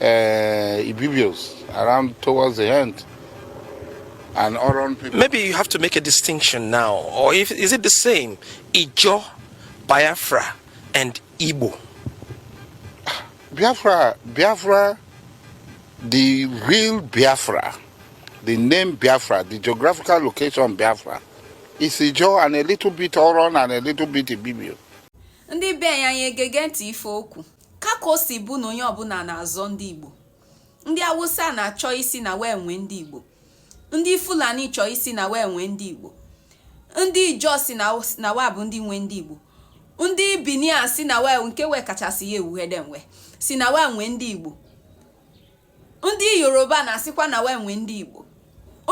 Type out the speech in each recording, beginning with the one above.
uh, Ibibios around towards the end. And Oron people. Maybe you have to make a distinction now, or if, is it the same? Ijo, Biafra, and Igbo. Biafra, Biafra, the real Biafra, the name Biafra, the geographical location Biafra, is Ijo and a little bit Oron and a little bit Ibibio. ndị be anyị anyị egege ntị ife okwu Ka ka o si bụ na onye ọbụla na-azọ ndị Igbo, ndị Awụsa na-achọ ịsị na wa nwe ndị Igbo, ndị Fulani chọọ ịsị na wa nwe ndị Igbo, ndị Ijọ sị na wa bụ ndị nwe ndị Igbo, ndị Bini asị na wa nke wa kachasị ya ewughede nwe sị na wa nwe ndị Igbo. ndị yoruba na-asịkwa na wa nwe ndị igbo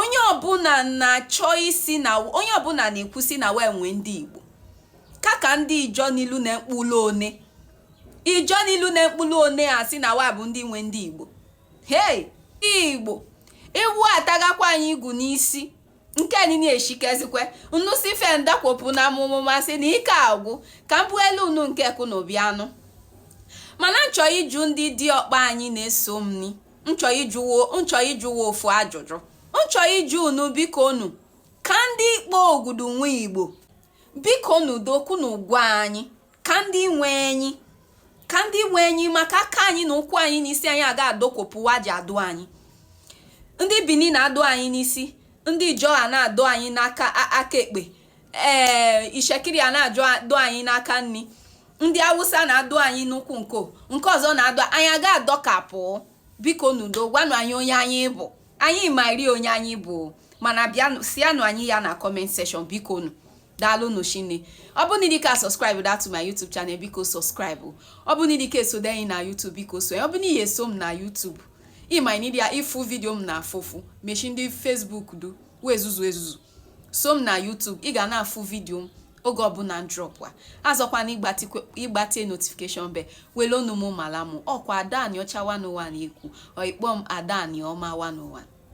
onye ọbụla na-achọ ịsị na onye ọbụla na-ekwu sị na wa nwe ndị igbo ka ka ndị ijọ n'ilu na mkpụlụ one ijọ n'ilu na mkpụlụ one a sị na wa bụ ndị nwe ndị igbo hei igbo ewu atagakwa anyị igu n'isi nke nini eshikezikwe nnu si fe ndakwopụ na amụmụ masị na ike agwụ ka m bụelu unu nke kụ na obi anụ mana nchọ ịjụ ndị diọkpa anyị na-eso m ni nchọ ịjụ wa ofu ajụjụ nchọ ịjụ unu biko unu ka ndị ikpo ogudu nwe igbo biko unu do kwunu gwa anyị ka ndị nwe anyị ka ndị nwe anyị maka aka anyị na ụkwụ anyị na isi anyị a ga-adọkwọpụ wa ji adọ anyị ndị bini na-adọ anyị n'isi ndị ijọ na-adọ anyị n'aka aka ekpe ee eh, ishekiri na-adọ anyị n'aka nni ndị awụsa na-adọ anyị n'ụkwụ nko nke ọzọ na-adọ anyị a ga-adọkapụ biko nụ do gwanụ anyị onye anyị bụ anyị marị onye anyị bụ mana bịanụ sianụ anyị ya na comment section biko nụ daalụnụ shinne ọ bụ n'i dika subscribe da to my youtube channel biko subscribe ọ bụ n'i dika esode anyị na youtube biko so ọ bụ n'ihi eso m na youtube ịma nidi ya ịfụ vidio m na afụfụ meshi ndị facebook du wee zuzu ezuzu so m na YouTube ị ga na-afụ vidio m oge ọbụla m drop wa azọkwana ịgbatie notification bell wele ọnụ m mala mụ ọkwa ada anịọcha 101 ekwu ọ ị kpọ m ada anịọma 101